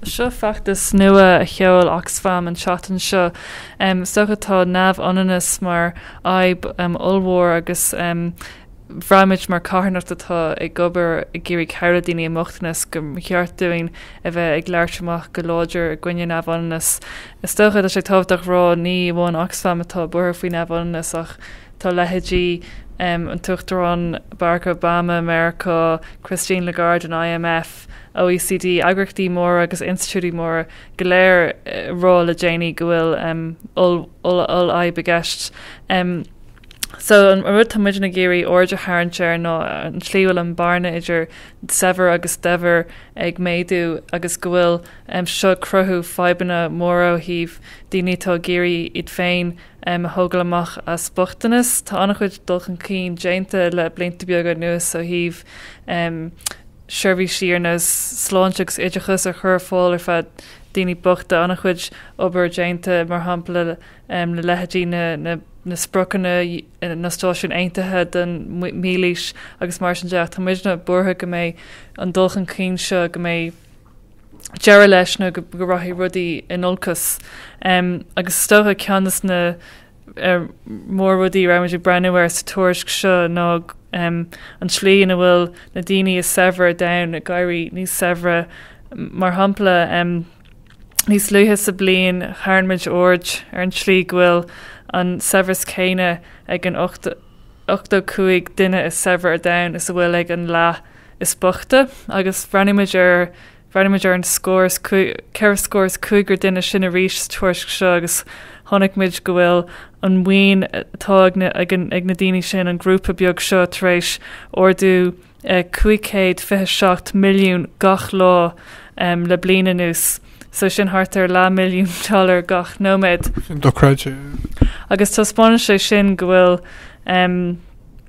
Seo feachtas nua a sheol Oxfam an tseachtain seo, sochaí atá neamhionannas mar fhadhb ollmhór agus bhraithimid mar carthanacht atá ag obair ag iarraidh cabhrú daoine i mbochtanas gur cheart dúinn a bheith ag labhairt amach go láidir i gcoinne neamhionannas. Is dócha atá sé tábhachtach a rá ní amháin Oxfam atá buartha faoi neamhionannas ach tá leithéidí an tUachtaráin Barack Obama i Meiriceá, Christine Lagarde in IMF, OECD, eagraíochtaí móra agus institiúidí móra go léir rá le déanaí go bhfuil ollfhadhb i gceist. So an rud tá muidne ag iarraidh aird a tharraingt air ná an tslí a bhfuil an bearna idir saibhir agus daibhir ag méadú agus go bhfuil seo ag cruthú fadhbanna móra ó thaobh daoine atá ag iarraidh iad féin a thógáil amach as bochtanas. Tá an-chuid dul chun cinn déanta le blianta beaga anuas ó thaobh seirbhísí ar nós sláinte agus oideachas a chur ar fáil ar feadh daoine bochta, an-chuid obair déanta, mar shampla le leithéidí na spriocanna na Náisiún Aontaithe don Mhílaois agus mar sin de. Tá muidne buartha go mbeidh an dul chun cinn seo go mbeidh deireadh leis nó go rachaidh rudaí in olcas. Agus is dócha ceann de na mór-rudaí a raibhimid ag breathnú air sa tuairisc seo ná um, an tslí ina bhfuil na daoine is saibhre ar domhan ag éirí níos saibhre. Mar shampla, um, níos luaithe sa bhliain tharraing muid aird ar an tslí go bhfuil an saibhreas céanna ag an 85 duine is saibhre ar domhan is a bhfuil ag an leath is bochta, agus breathnaímid ar Bhreathnaíomar ar an scór is ceithre scór is cúigear duine sin arís sa tuairisc seo agus chonaic muid go bhfuil an mhaoin atá ag na daoine sin, an grúpa beag seo, tar éis ardú €527 milliún gach lá le bliain anuas, so sin thart ar leath milliún dollar gach nóiméad. Agus taispeánann sé sin go bhfuil.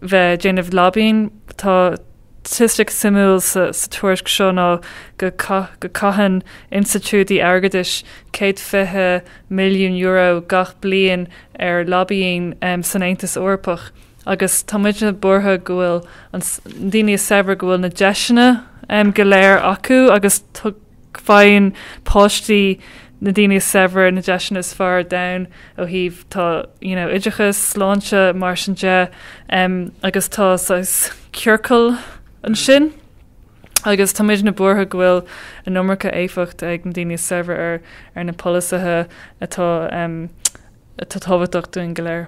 bheith déanamh lobbying. Tá staitistic suimiúil sa tuairisc seo ná go caitheann institiúidí airgeadais €120 milliún gach bliain ar lobbying san Aontas Eorpach agus tá muidne buartha go bhfuil na daoine is saibhre go bhfuil na deiseanna go léir acu agus Faigheann páistí na daoine is saibhre na deiseanna is fearr ar domhan ó thaobh tá, you know, oideachas, sláinte, mar sin de, em, agus tá saghas ciorcal ansin. Agus tá muidne buartha go bhfuil an iomarca éifeacht ag na daoine is saibhre ar, ar na polasaithe atá, em, atá tábhachtach dúinn go léir.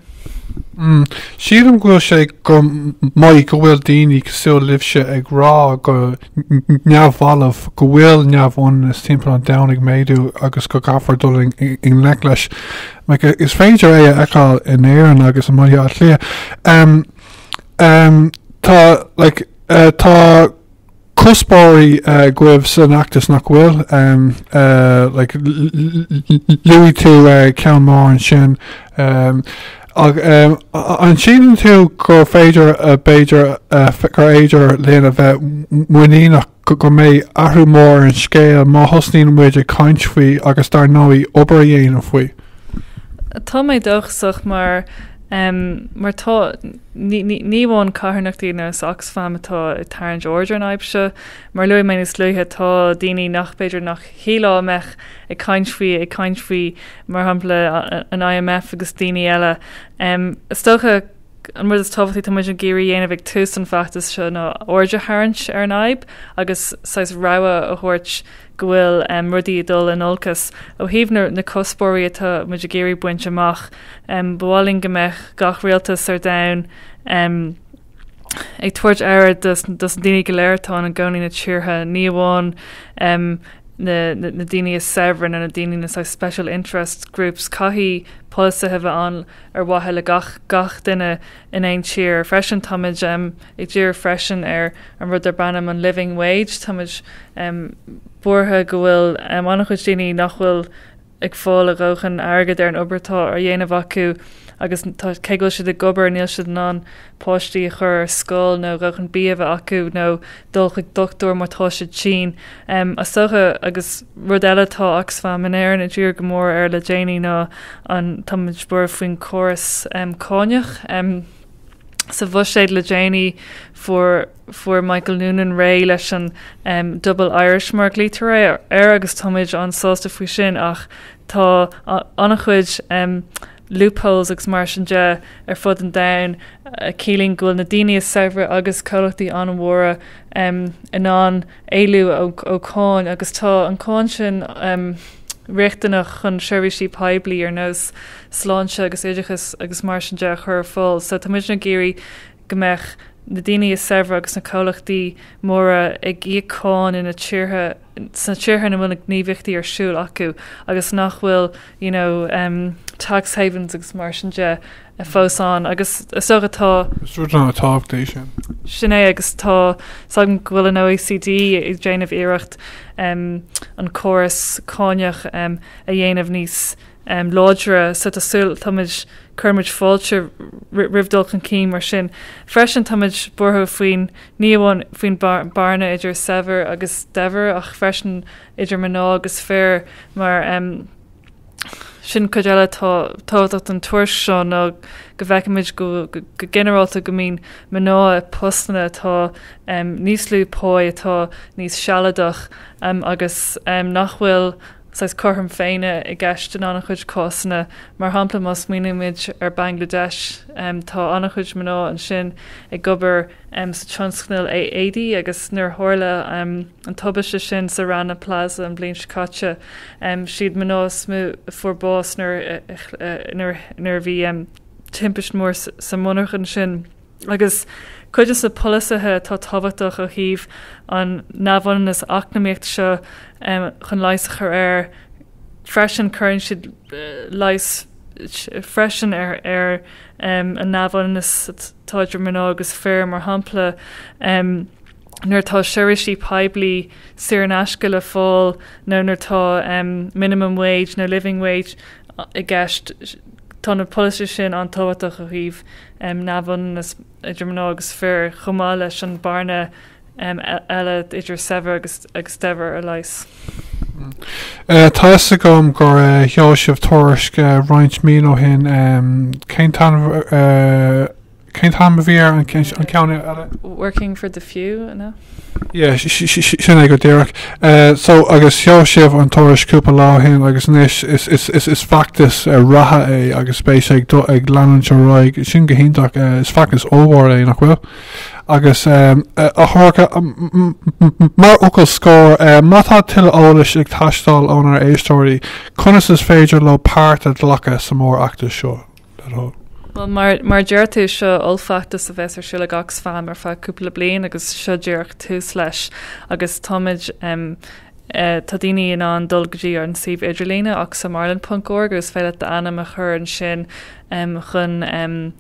Sílim go bhfuil sé go maith go bhfuil daoine cosúil libhse ag rá go neamhbhalbh go bhfuil neamhionannas timpeall an domhain ag méadú agus go gcaithfear dul i ngleic leis. Is féidir é a fheiceáil in Éirinn agus i mBaile Átha Cliath. Tá cuspóirí agaibh san fheachtas seo nach bhfuil. Luaigh tú ceann mór ansin. An síleann tú gur féidir b'fhéidir gur féidir linn a bheith muiníneach go mbeidh athrú mór ar an scéal má thosnaíonn muid ag caint faoi agus dar ndóigh obair a dhéanamh faoi? Tá mé dóchasach mar tá Ní amháin carthanachtaí ar nós Oxfam atá ag tarraingt aird ar an fhadhb seo. Mar a luaigh mé níos luaithe, tá daoine nach b'fhéidir nach shílfeá a bheadh ag caint faoi ag caint faoi, mar shampla, an IMF agus daoine eile. Is dócha, an rud is tábhachtaí atá muid ag iarraidh dhéanamh ag tús an feachtais seo ná aird a tharraingt ar an fhadhb agus saghas rogha a thabhairt go bhfuil rudaí ag dul in olcas ó thaobh na cuspóirí atá muid ag iarraidh baint amach. Ba mhaith linn go mbeadh gach rialtas ar domhan ag tabhairt aire dos na daoine go léir atá ina gcónaí na tíortha, ní amháin na daoine is saibhre nó na daoine na special interest groups. Caithfidh polasaithe a bheith ann ar mhaithe le gach duine. in aon tír. Freisin táimid ag díriú freisin ar an rud darb ainm an living wage. Táimid buartha go bhfuil an-chuid daoine nach bhfuil ag fáil a ndóthain airgid ar an obair atá á dhéanamh acu agus cé go bhfuil siad ag obair níl siad in ann páistí a chur ar scoil nó dóthain bia a bheith acu nó dul chuig dochtúir má tá siad tinn. agus rud eile atá Oxfam in Éirinn ag díriú go mór air le déanaí ná an táimid buartha faoin córas cáineach. sa bhuiséad le déanaí fuair fuair Michael Noonan réidh leis an um, Double Irish mar a ghlaoitear air agus táimid an-sásta faoi sin ach tá an-chuid um, loopholes agus mar sin de ar fud an domhain a chiallaíonn go bhfuil na daoine is saibhre agus comhlachtaí an-mhóra in ann éalú ó cháin agus tá an cháin sin riachtanach chun seirbhísí poiblí ar nós sláinte agus oideachas agus mar sin de a chur ar fáil. So tá muidne ag iarraidh go mbeadh na daoine is saibhre agus na comhlachtaí móra ag íoc cáin ina dtíortha sna tíortha ina bhfuil na gníomhaíochtaí ar siúl acu agus nach bhfuil you know, um, tax havens agus mar sin de uh, fós ann agus is dócha tá Suirt an tábhachtaí sin. sin é agus tá fhios agam go bhfuil an OECD ag déanamh iarracht um, an córas cáineach um, a dhéanamh níos um, láidre so tá súil táimid cuirimid fáilte ri- roimh dul chun cinn mar sin. Freisin táimid buartha faoin ní amháin faoin bhearna idir saibhir agus daibhir ach freisin idir mná agus fir, mar sin cuid eile tábhachtach den tuairisc seo ná go bhfeicfimid go ginearálta go mbíonn mná i bpostanna atá níos lú pá, atá níos sealadach agus nach bhfuil saghas cothrom féinne i gceist in an-chuid cásanna. Mar shampla, má smaoinímid ar Bhangladeis, tá an-chuid mná ansin ag obair sa tionscal éadaí agus nuair a tharla an tubaiste sin sa Rana Plaza an bhliain seo caite, siad mná is mó a fuair bás nuair a bhí timpist mhór sa mhonarcha ansin. Agus cuid de na polasaithe atá tábhachtach ó thaobh an neamhionannas eacnamaíochta seo chun leigheas a chur air freisin, cuireann siad leigheas freisin ar an neamhionannas atá idir mná agus fir, mar shampla, nuair atá seirbhísí poiblí saor in aisce le fáil nó nuair atá minimum wage nó living wage i gceist, tá na polasaithe sin an-tábhachtach ó thaobh neamhionannas idir mná agus fir, chomh maith leis an bhearna eile idir saibhir agus daibhir a leigheas. Tá fhios agam gur sheol sibh tuairisc roinnt mí ó shin. Cén t-ainm cén t-ainm a bhí ar an ceann eile? Working for the Few, nó? Yeah, sin é go díreach. So agus sheol sibh an tuairisc cúpla lá ó shin agus anois is feachtas reatha é agus beidh sé ag leanúint ar aghaidh. Tá sin go hiontach. Is feachtas ollmhór é, nach bhfuil? agus a Shorcha mar fhocal scóir. Má tá tuilleadh eolais ag teastáil ónár éisteoirí, conas is féidir leo páirt a ghlacadh sa mórfheachtas seo? Bhuel, mar a deir tú, seo ollfheachtas a bheas ar siúl ag Oxfam ar feadh cúpla bliain agus seo díreach tús leis agus táimid, eh, tá daoine in ann dul go dtí an suíomh idirlíne oxfamireland.org agus féidir leat d'ainm a chur ansin chun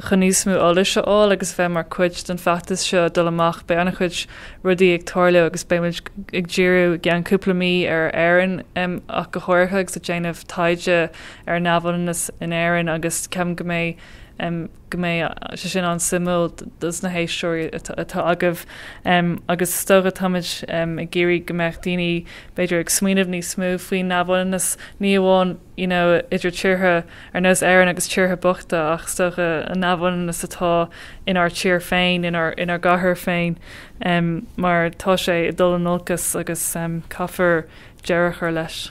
Chun níos mó eolais a fháil agus a bheith mar chuid den fheachtas seo dul amach beidh an-chuid rudaí ag tarlú agus beidh muid ag díriú i gceann cúpla mí ar Éirinn ach go háirithe agus ag déanamh taighde ar an neamhionannas in Éirinn agus ceapaim go mbeidh go mbeidh sé sin an-suimiúil dos na héisteoirí atá agaibh agus is dócha táimid ag iarraidh go mbeadh daoine b'fhéidir ag smaoineamh níos mó faoin neamhionannas ní amháin you know, idir tíortha ar nós Éireann agus tíortha bochta ach is dócha an neamhionannas atá inár tír féin, inár, inár gcathair féin um, mar tá sé ag dul in olcas agus um, caithfear deireadh a chur leis.